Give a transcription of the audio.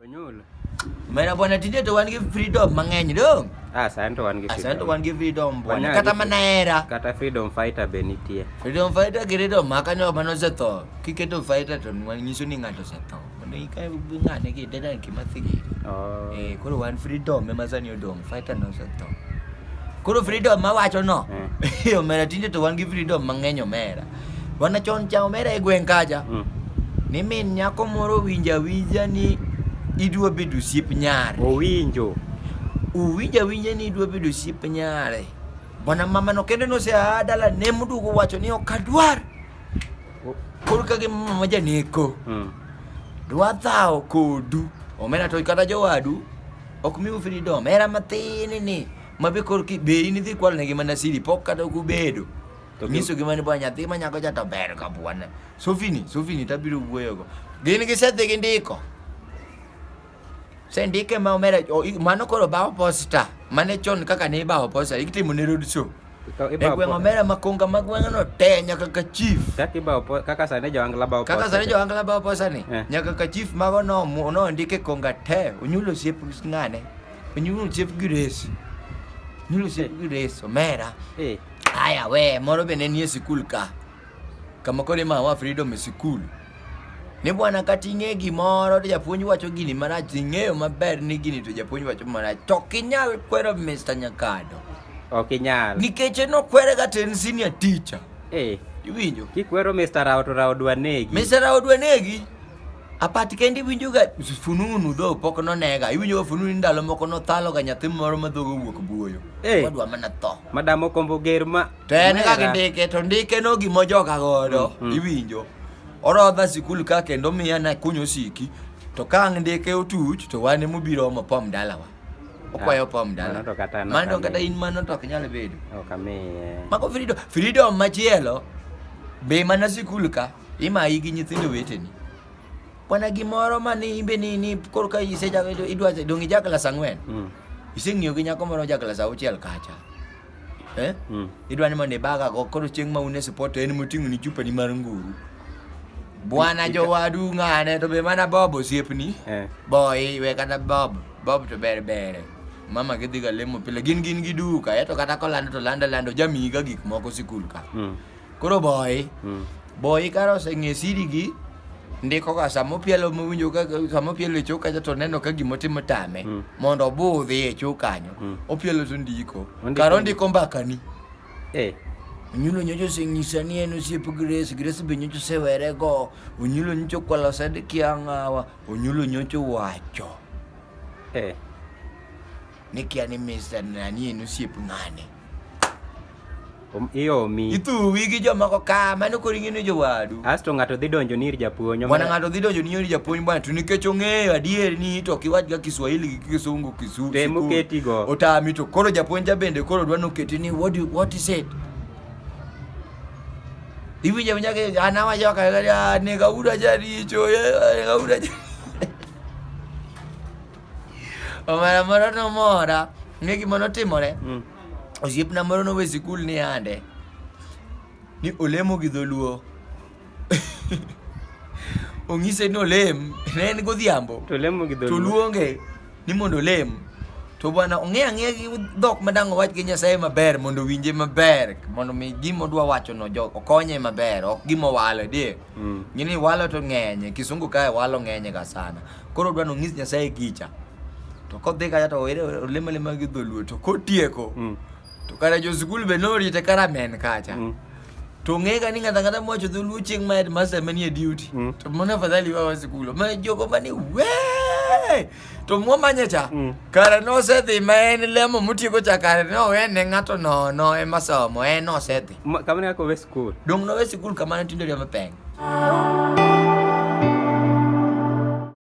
Onyulo. Mera bwana tinde to wan gi freedom mang'eny do. Ah, sani to wan gi Asante freedom. wan gi freedom bwana. Wanyalo Kata gi- mana hera. Kata freedom fighter be nitie. Freedom fighter gi freedom maka nyo mano osetho. Kiketo fighter to nyiso ni ng'ato osetho. Mondo ikae ng'ane gi dada kima thigi. Oh. Eh, koro wan freedom ema sani odong', fighter no osetho. Koro freedom mawacho no. Eh. Omera tinde to wan gi freedom mang'eny omera. Bwana Chon cha omera e gweng' kacha Mm. ni min nyako moro winja winja ni idwa bedo osiep nyare. Owinjo. Uwinja winja ni idwa bedo osiep nyare. Bwana mama no kende nose a dala ne mudugo wacho ni ok adwar. Koro ka gi mama janeko. Mm. Dwa thawo kodu. Omera to kata jowadu ok miu freedom. Era matin ni. Mabe koro ki be in idhi kwalnegi mana siri pok kata ok ubedo. To nyiso gi mani bwa nyathi ma nyako cha to ber ka bwana. Sofini, sofini tabiro wuoyo go. Gin gi sethi gi ndiko. Se ndike ma omera o- i- mano koro bawo posta. Mane chon kaka ne ibawo posta itimo ne road show. Ikaw- E ibawo gweng' po- omera makonga ma gweng' no te nyaka ka chief. Kaka ibawo po- kaka sani joangla bawo Kaka posta sani cha. joangla bawo posta ni Eh. nyaka ka chief mago no mu- no ndike konga te onyulo siep ng'ane. Onyulo siep gi res. Onyulo siep gi res omera. Eh. Aya we, moro be ne nie sikul ka. Kama koro ima wa freedom e sikul. Ni bwana kata ing'e gimoro to japuonj wacho gini marach, to ing'eyo maber ni gini to japuonj wacho marach. To ok inyal kwero Mr. Nyakado. Ok inyal. Nikech en okwere kata en senior teacher. Eh, Iwinjo? kikwero Mr. Rao to Rao dwa negi. Mr. Rao dwa negi. Apati kende iwinjoga fununu dho pok nonega. Iwinjoga fununu ndalo moko nothaloga nyathi moro ma dhogo wuok buoyo. Hey. Wadwa mana tho. Madam okombo ger ma. To en kaka ndike to ndike no gimo joka godo. Mm, mm. Iwinjo. Orodha sikul ka kendo miya na kunyo siki. To ka ang' ndike otuch to wane mubiro omo pom dalawa. Okwayo ah, pom dala. Mano kata in mano to ok nyal bedo. Ok amiye. Mako freedom. Freedom machielo. Be mana sikul ka. Imayi gi nyithindo weteni. Kwana gimoro ma ni imbe ni ni koro ka ise ja idwa dongi ja klas ang'wen. Mm. Iseng'iyo gi nyako moro ja klas auchiel kacha. Eh? Mm. Idwa ni mondo ibaga go koro chieng' ma un e support en moting'o ni chupa ni mar nguru. Bwana jowadu ng'ane to be mana Bob osiepni. Eh. Boy we kata Bob. Bob to ber bere. Mama gidhi ga lemo pile gin gin gi duka eto kata kolando to lando lando jamiga gik moko sikul ka. Mm. Koro boy, mm. boy karo oseng'e siri gi ndiko ka sama opielo mowinjo ka sama opielo e choka to neno ka gimo timo tame mm. mondo obudhi e choka kanyo mm. opielo to ndiko karo ndiko mbakani eh onyulo nyocho oseng'isa ni en osiep grace grace be nyocho osewere go onyulo nyocho kwalo sad kiang'awa onyulo nyocho wacho eh Nikia ni Mr. Nani en osiep ng'ane. Om- Iomi. Ithuwi gi jomoko ka mano koro ing'e ni jowadu. Asto ng'ato dhi donjo ni ir japuonj. Bwana omera- ng'ato dhi donjo ni nyori japuonj bwana to nikech ong'eyo adier ni to kiwachga Kiswahili gi Kisungu kisu. Tem sikul, oketigo. Otami to koro japuonj ja bende koro dwa noketi ni what do, what is it? Iwinja winja ke anawa joka ya nega uda jaricho ya nega uda jaricho. Omera moro nomora ni gima notimore Mm. osiepna moro nowe sikul ni ande ni olemo gi dholuo ong'ise ni olem ne en godhiambo To lemo gi to dholuo. luonge ni mondo olem to bwana ong'e ang'eya gi dhok madang' owach gi nyasaye maber mondo owinje maber mondo mi gima odwa wachono jo okonye maber ok gima owalo die Mm. ngini walo to ng'enye kisungu kae walo ng'enye ga sana Koro odwa nonyis Nyasaye gicha. To kodhi kacha to owere olemo alema gi dholuo to kotieko Mm. to kare jo skul be norite karamen kacha. Mm. To ng'ega ni ng'ata ng'ata mowacho dholuo chieng' ma headmaster manie duty. Mm. To mano afadhali wawa skul. Ma jogo mani wee! To mwamanye cha. Mm. Kare nosedhi ma en lemo motieko cha kare nowene ng'ato nono ema somo en osedhi. Ma- Kamano kaka owe skul. Dong' nowe sikul kamano tinde riyo mapeng'.